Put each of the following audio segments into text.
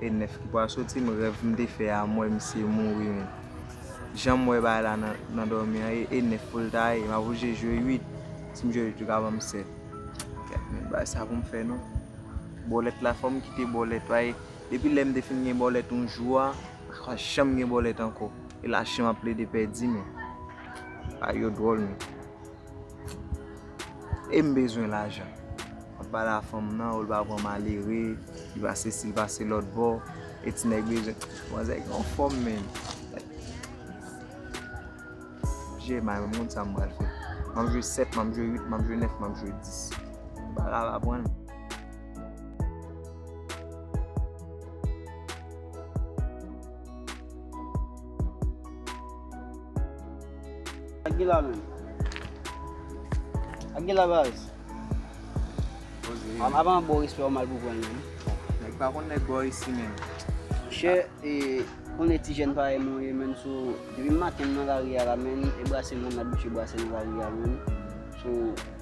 E 9 ki pral soti m rèv m te fè a m wè misye mouri menn janm wè bagay la nan dòmi an e 9 pou l ta ye m ap oblije jwe 8 si m jwe 8 yo ka banm 7 gad menn bagay sa pou m fè non bòlèt la fò m kite bòlèt paske depi lè m te fin gen bòlèt yon jou a m pa janm gen bòlèt ankò e lache m ap plede pèdi menn bagay yo dwòl menn. E m bezwen lajan. Wap pale a fanm nan ou li pa pran malere, li pa sesi, li pa se lòt bò. E ti nèg bezwen. Manzè gen yon fòm menn. Jee may mwen moun sa m pral fè. Map jwe 7, map jwe 8, map jwe 9, map jwe 10. Bal la va pran l. Aguila men. Aguila baz. Am avan bo respè ou mal pou gwen men. Nèg pa kon nèg bo isi men. Chè e kon e ti jèn pa e mwen e men sou depi maten nan la ria la men e brase moun la biche brase nan la ria men sou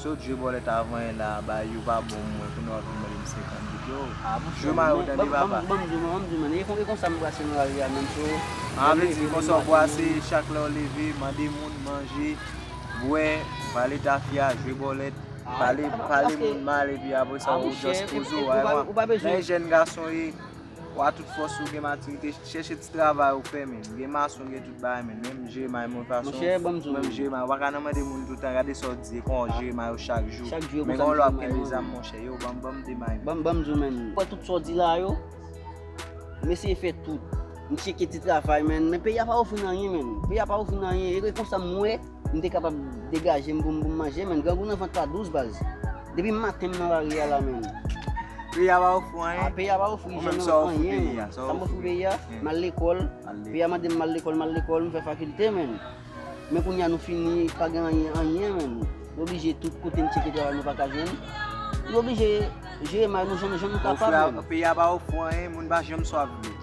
Sot jwe bòlèt a vanyen la ba yo pa bon m wè kounye w ap vin mande m 50 dout yo jwe mayo tande papa Banm di w non banm di w non e konsa m brase nan lari a menm so A vle di konsa w brase chak lè w leve mande moun manje bwè vale tafya jwe bòlèt pale moun mal epi apresa w just poze w a wè nan e jèn gason ye Ou a tout fòs ou gen matirite chèche ti travay ou fè menn gen mason gen tout bagay menn menm jeremai mwen pa son menm jeremai ou pa ka nan mande moun toutan gade sa ou di kon jeremai ou chak jou men gen yon lè ou ap kenbe zam monchè yow banm banm de may banm banm di w menn fè tout sa ou di la yo m eseye fè tout m cheke ti travay menn men peyi a pa ofri n anyen menn peyi a pa ofri n anyen e konsa m wè M te kapab degaje m pou m pou m manje menn grangou nan vant pa dous baz. Depi maten m nan lari a la menn. Peyi a pa ofri w anyen? A peyi a pa ofri jèn an anyen menn. Sa m ofri peyi a? M al lekòl, peyi a mande m m al lekòl, m al lekòl, m fè fakilte menn. Men kounye a nou fini pa gen anyen anyen menn. Nou oblije tout kote n tcheke travay nou pa ka jwenn. Nou oblije jere may nou jan nou kapab menn. Peyi a pa ofri w anyen, moun pa janm swaf dlo.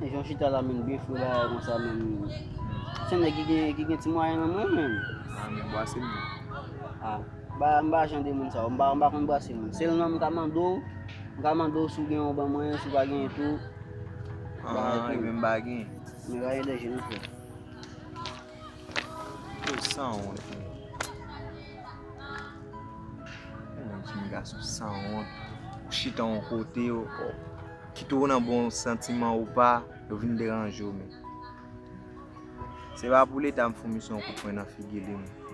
Jan w chita la menm byen fre la a konsa menm se nèg ki gen ki gen ti mwayen menm wi menm. A menm bwase menm. A ba m pa jan de moun sa yo m pa m pa konn bwase menm. Sèl nan m ka mande w m ka mande w si w gen yon ban mwen si w pa gen tou. An e menm m pa gen. M pa gen dèje non frè. Yo sanwont menm. Menm ti nèg a sou sanwont. Chita yon kote yo. Kite w nan bon santiman ou pa, yo vin deranje w men. Se pa pou leta m foumi son kout pwen nan figi li menm.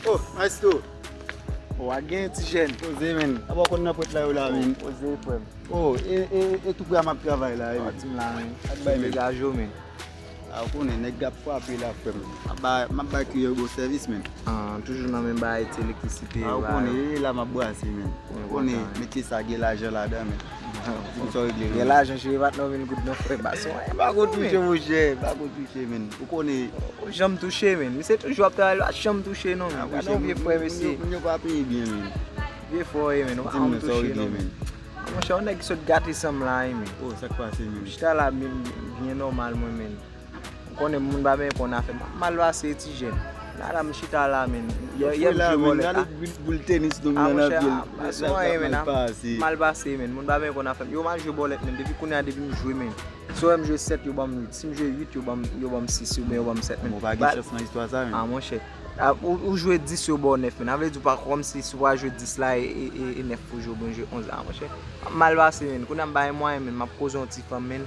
Oh maestro Ou a gen ti jèn Poze men Aba w konn nan pwent la yo la men Poze frè m Oh e e e tou pre a m ap travay la Aba ti m la men Ak bay men Dega jo men A ou konnen nèg ap frape la frè m M ap bay m ap bay kiyè yo bon sèvis men An toujou nan menm bagay ti elektrisite yo la A ou konnen e e la m ap brase men Ou konnen metye sa gen lajan ladan men Gen lajan cheve pat nan men goud nan frè bas wè. Ou pako touche monchè, ou pako touche men. Ou konnen. Ou janm touche men. Misye toujou ap travay li pat janm touche non. Gade yon vye frè mesye. Moun yo pa peye byen men. Vye frè ou ye men. Ou pa janm touche non men. Monchè yon nèg ki sot gate sanm la wi men. Oh sak pase menm. Chita la byen nòmal mwen menm. Ou konnen moun pa byen konn afè map mal pase e ti jèn. Gada m chita la menn. Yè yè m jwe vòlè. Gade boul tenis nou menn nan pye l. A monchè se anyen menn ap mal pase menn. Moun pa byen konn afè m. Yo m al jwe bòlèt menn depi kounya depi m jwe menn. Si yo wè m jwe 7 yo ban m 8. Si m jwe 8 yo ban m yo ban m 6 oubyen yo ban m 7 menn. Ou pa gen chans nan istwa sa menn. A monchè. Ou jwe 10 yo ba w 9 menn. A vle di ou pa kòm si si w pa jwe 10 la e 9 pou jwe oubyen jwe 11 la. A monchè. Map mal pase menn. Kounya m pa gen mwayen menn. Map koze yon ti fanm menn.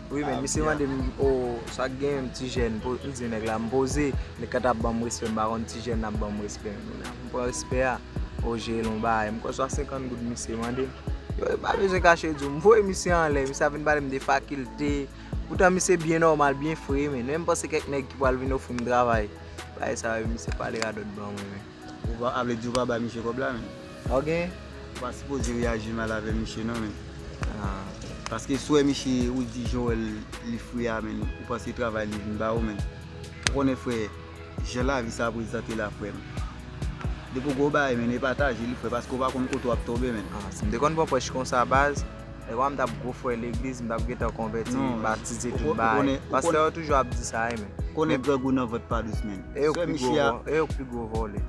Wi men misye mandem oo sak gen yon ti jèn pou m di nèg la m poze nèg ka ta banm respè m pa konn ti jèn ap banm respè m pran respè a o jel on bagay m kwè se 50 goud misye mandem yo e pa bezwen kache di w m voye misye anlè misye ap vin pale m de fakilte poutan misye byen nòmal byen fre men menm panse kèk nèg ki pral vin ofri m travay bagay sa yo misye pale radòt ban mwen men. Ou a vle di ou pa bay misye kob la menm. Sa w gen? Ou pa sipoze reyaji mal avè misye non menm. Paske swè misye ou di jan w wè l li fri a menm ou panse se travay li vin ba ou menm. Ou konnen frè jan lavi sa prezante la frè m. Depi w gen yon bagay menm e pataje li frè paske ou pa konn kote w ap tonbe menm. Si m te konn pran prèch konsa baz. Epa m tap gwo frè legliz m tap gentan konvèti batize tout bagay pastè yo toujou ap di sa wi men ou konnen grang ou nan vant pa dous menn e yo k pi gwo vòlè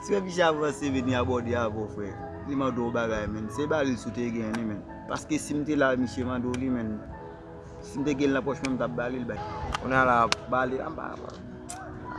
sè misye ap ranse vini abòde avè w frè li mande w bagay menn se baril sou te gen li menn paske si m te la misye mande w li menn. Si m te gen l nan pòch mwen m tap ba li l bay. Kounye a la ap ba li la bay.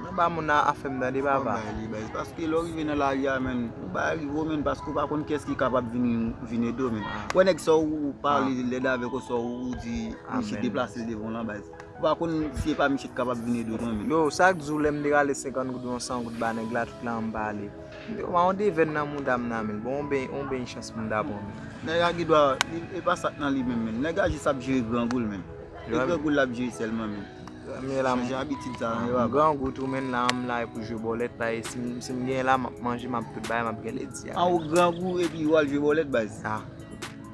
Nan ba moun nan afè m tande papa. Fò bay li bay. Paske lè w rive nan lari a menn ou bay li vre menn paske ou pa konn kiyès ki kapab vin ede w menn. Ou wè nèg sa w pale lèd avè l oswa ou di misye deplase l devan w lan bay. Ou pa konn si e pa misye ki kapab vin ede w lan menn. Yo sa k di w lè m te rale 50 goud ou 100 goud ba nèg la tout la an m ba li. Yo ba yon devèn nan mouda m nan menl bon yon beny yon beny chans mouda bon menm. Nèg a gidwa li epa sak nan li menm menm nèg a jis ap jere grangou l menm e grangou l lap jere sèlman menm li chanje abitid sa nan yo aba. M grangou tou menn la m la pou jwe bòlèt pae si m genyen la map manje map tout bagay map gen lèt di a. An ou grangou epi wal jwe bòlèt baz.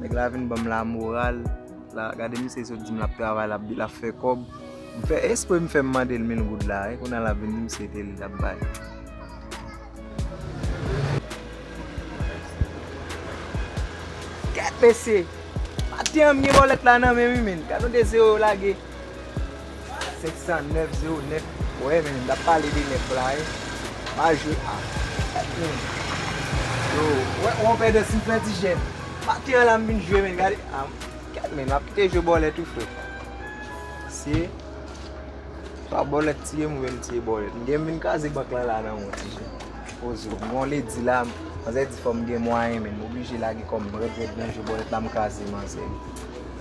Nèg la vin banm la moral la gade misye li sot dim lap travay lap di lap fè kòb m fè espre m fèm mandel mil goud la e kounya lap vin dim se tel li tap bay. Kèt mesye! Maten an m gen bòlèt la nan menm wi menn gad yon 2 zero yo lage. 509 09 Wè men nap pale de 9 la wi pa jwe ak moun yo wè on pè de sim fè ti jè maten an la m vin jwe men gade kèt men map kite jwe bòlèt wi frè se pa bòlèt tiye m vin tiye bòlèt m gen m vin kraze bank lan la nan on ti jè poze m gen on ledi la manzè di fòm gen mwayen men m oblije lage kòm m rèd rèd nan jwe bòlèt la m kraze manzè.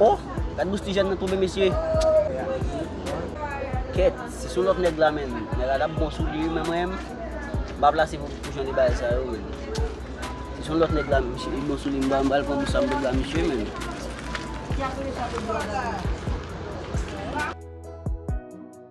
Oh gad bouch ti jèn nan tonbe mesye Kèt se sou lòt nèg la menm Nèg la tap bon sou li wi men mwen menm M pa plase pou jan de bagay sa yo menm Se sou lòt nèg la menm misye bon sou li M pral pran bouch sa m pral ba misye menm.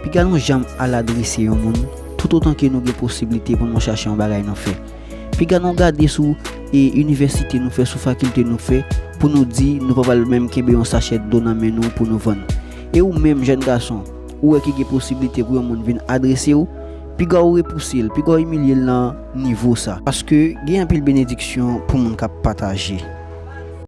Piga nou janm al adrese yon moun, toutotan ke nou gen posiblite pou nou chache yon bagay nou fè. Piga nou gade sou e inivèsite nou fè, sou fakilte nou fè, pou nou di nou pa pral menm kenbe yon sachè dlo nan men nou pou nou vann. E ou menm, jèn gason, ou wè ke gen posiblite pou yon moun vin adrese ou, piga ou repouse l, piga ou imilye l nan nivo sa. Paske gen anpil benediksyon pou moun k ap pataje.